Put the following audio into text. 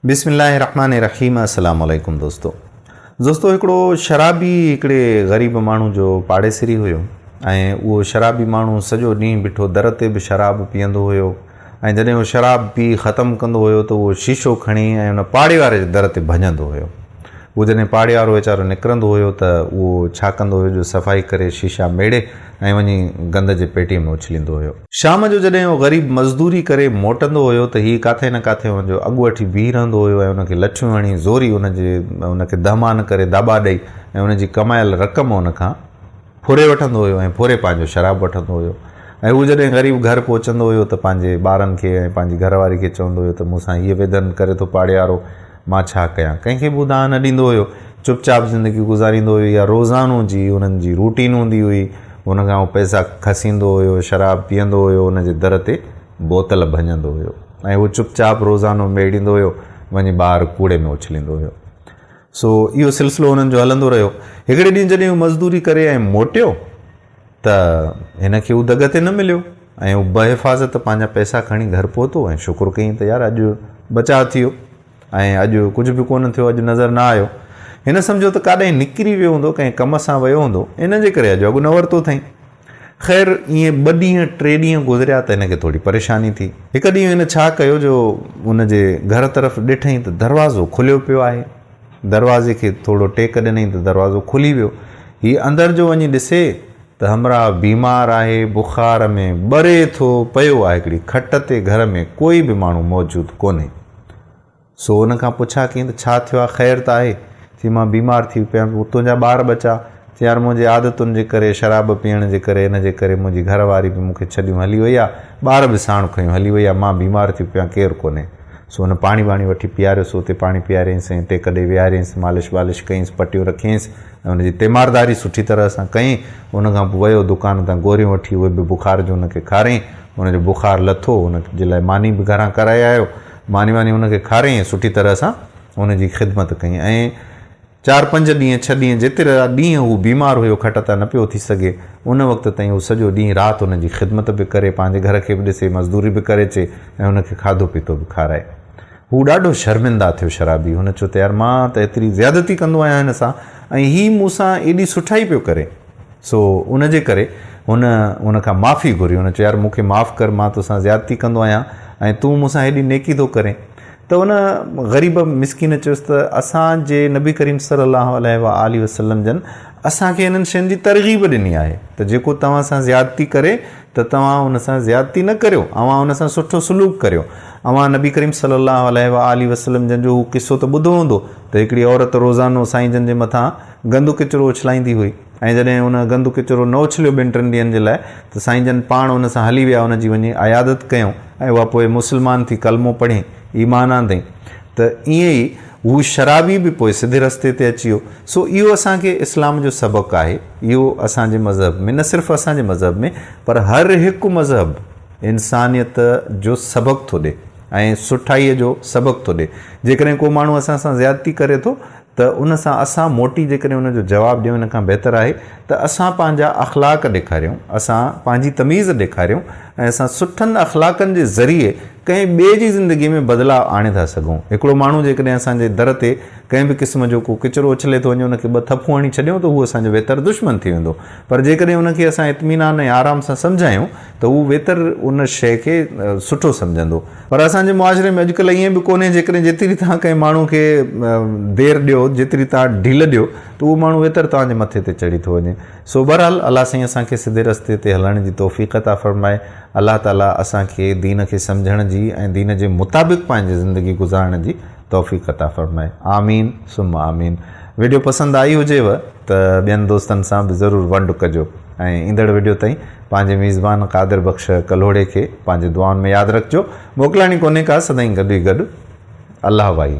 بسم الله الرحمٰن الرحيم السلام عليڪم دوستو دوستو هڪڙو شرابي هڪڙي غريب ماڻهو جو پاڙيسري هيو ۽ اهو شرابي ماڻهو سڄو ڏينهن بيٺو در تي به شراب پيئندو هيو ۽ جڏهن اهو شراب پي ختم ڪندو هيو ته اهو شيشو کڻي ۽ ان پاڙي واري جي در تي ڀڃندو هيو اهو جڏهن پاڙي وارو ويچارو نڪرندو هيو ته اهو ڇا ڪندو هيو جو صفائي ڪري شيشا ميڙي ۽ وڃي گند جي پيٽيء ۾ اڇليندو هيو. شام جو جڏهن اهو غريب مزدوري ڪري موٽندو هيو ته هيء ڪاٿي نه ڪاٿي هن جو اڳوٺي بيهي رهندو هيو ۽ هن کي لٺيون هڻي زوري هن جي هن کي دهمان ڪري داٻا ڏئي ۽ هن جي ڪمايل رقم هن کان ڦري وٺندو هيو ۽ ڦري پنهنجو شراب وٺندو هيو ۽ هو جڏهن غريب گهر پهچندو هيو ته پنهنجي ٻارن کي ۽ پنهنجي گهرواري کي چوندو هيو ته مون سان هيء ويڌن ڪري ٿو پاڙيهارو مان ڇا ڪيان؟ ڪنهن کي به اداهه نه ڏيندو هيو. چپ چاپ زندگي گذاريندو هيو. اها روزانو جي هن جي روٽين هوندي هئي. هن کان هو پئسا کسيندو هيو، شراب پيئندو هيو، هن جي در تي بوتل ڀڃندو هيو ۽ هو چپ چاپ روزانو ميڙيندو هيو، وڃي ٻاهر ڪوڙي ۾ اڇليندو هيو. سو اهو سلسلو هنن جو هلندو رهيو. هڪڙي ڏينهن جڏهن هو مزدوري ڪري ۽ موٽيو. ته هن کي اهو دڳ تي نه مليو ۽ هو بحفاظت پنهنجا پئسا کڻي گهر پهتو ۽ شڪر ڪيائين ته يار اڄ بچاء ٿيو ۽ اڄ ڪجهه به ڪونه ٿيو، اڄ نظر نه آيو. هن سمجهيو ته ڪاڏانهن نڪري ويو هوندو، ڪنهن ڪم سان ويو هوندو، ان جي ڪري اڄ اڳ نه ورتو اٿئين. خير ائين ٻه ڏينهن ٽي ڏينهن گذريا ته هن کي ٿوري پريشاني ٿي. هڪ ڏينهن هن ڇا ڪيو جو هن جي گهر طرف ڏٺئين ته دروازو کليو پيو آهي. دروازي کي ٿورو ٽيڪ ڏنئين ته دروازو کلي ويو. هي اندر جو وڃي ڏسي ته همراهه بيمار آهي، بخار ۾ ٻري ٿو پيو آهي هڪڙي کٽ تي گهر ۾ ڪوئي به ماڻهو موجود ڪونهي. سو ان کان پڇا ڪيائين ته ڇا ٿيو آهي خير ته آهي؟ چيائين مان بيمار ٿي پيم تنهنجا ٻار ٻچا؟ چي يار منهنجي عادتن جي ڪري شراب پيئڻ جي ڪري ان جي ڪري منهنجي گهر واري به مون کي ڇڏيون هلي وئي آ ٻار به ساڻ کنيون هلي وئي آ مان بيمار ٿيو پيان ڪير ڪونهي سو هن پاڻي ٻاڻي وٺي پياريس اتي پاڻي پيارينس ۽ ٽيڪ ڏئي ويهارينس مالش والش ڪئينس پٽيون رکينس ۽ ان جي تيمارداري سٺي طرح سان ڪئين ان کان پوء ويو دڪان تان گوريون وٺي اهي به بخار جون ان کي کاريائين ان جو بخار لٿو ان جي لاء ماني به گهران ڪرائي آيو ماني واني ان کي کاريائين سٺي طرح سان ان جي خدمت ڪئين ۽ چار پنج ڏينهن ڇهه ڏينهن جيتري ڏينهن هو بيمار هيو کٽ تان نه پيو اٿي سگهي ان وقت تائين هو سڄو ڏينهن رات هن جي خدمت به ڪري پنهنجي گهر کي به ڏسي مزدوري به ڪري اچي ۽ هن کي کاڌو پيتو به کارائي هو ڏاڍو شرمنده ٿيو شرابي هن چيو ته يار مان ته ايتري زيادتي ڪندو آهيان هن سان ۽ هي مون سان ايڏي سٺائي پيو ڪري سو ان جي ڪري هن هن کان معافي گهري هن چيو يار مون کي معاف ڪر مان تو سان زيادتي ڪندو آهيان ۽ تون مون سان هيڏي نيڪي ٿو ڪرين ته ان غريب مسڪين چيس ته اسان جي نبي ڪريم صلّي اللّٰه عليه واٰله وسلّم جن اسان کي انهن شين جي ترغيب ڏني آهي ته جيڪو توهان سان زيادتي ڪري ته توهان ان سان زيادتي نه ڪريو اوهان ان سان سٺو سلوڪ ڪريو اوهان نبي ڪريم صلّي اللّٰه عليه واٰله وسلّم جن جو هو قصّو ته ٻڌو هوندو ته هڪڙي عورت روزانو سائين جن جي مٿان گندو ڪچرو اڇلائيندي هئي. ۽ جڏهن ان گند ڪچرو نه اڇليو ٻن ٽن ڏينهن جي لاء ته سائين جن پاڻ ان سان هلي ويا ان جي وڃي عيادت ڪيائون ۽ اها پوء مسلمان ٿي ڪلمو پڙهين ايمان آندئين ته ائين ئي هو شرابي به پوء سڌي رستي تي اچي ويو سو اهو اسان کي اسلام جو سبق آهي اهو اسان جي مذهب ۾ نه صرف اسان جي مذهب ۾ پر هر هڪ مذهب انسانيت جو سبق ٿو ڏي ۽ سٺائي جو سبق ٿو ڏي جيڪڏهن ڪو ماڻهو اسان سان زيادتي ڪري ٿو ته ان سان اسان موٽي جيڪڏهن ان جو جواب ڏيون ان کان بهتر آهي ته اسان پنهنجا اخلاق ڏيکاريون، اسان پنهنجي تميز ڏيکاريون ۽ اسان سٺن اخلاقن جي ذريعي ڪنهن ٻئي جي زندگي ۾ بدلاء آڻي ٿا سگهون. هڪڙو ماڻهو جيڪڏهن اسان جي در تي ڪنهن به قسم جو ڪو ڪچرو اڇلي ٿو وڃي ان کي ٻه ٿڦون هڻي ڇڏيون ته هو اسان جو ويتر دشمن ٿي ويندو پر جيڪڏهن ان کي اسان اطمينان ۽ آرام سان سمجهايون ته هو ويتر ان شيء کي سٺو سمجهندو. پر اسان جي معاشري ۾ اڄڪلهه ائين به ڪونهي، جيڪڏهن جيتري توهان ڪنهن ماڻهو کي دير ڏيو، جيتري توهان ڍيل ڏيو ته اهو ماڻهو ويتر توهان جي مٿي تي چڙهي ٿو وڃي. سو بهرحال الله سائين اسان کي سڌي رستي تي هلڻ جي توفيق عطا فرمائي. الله تعاليٰ اسان کي دين کي سمجهڻ جي ۽ دين جي مطابق پنهنجي زندگي گذارڻ جي توفيق عطا فرمائي آمين ثم آمين ويڊيو پسند آئي هجيو ته ٻين دوستن سان به ضرور ونڊ ڪجو ۽ ايندڙ ويڊيو تائين پنهنجي ميزبان قادر بخش ڪلهوڙي کي پنهنجي دعائن ۾ ياد رکجو موڪلائڻي ڪونهي ڪا سدائين گڏ ئي گڏ الله وائي.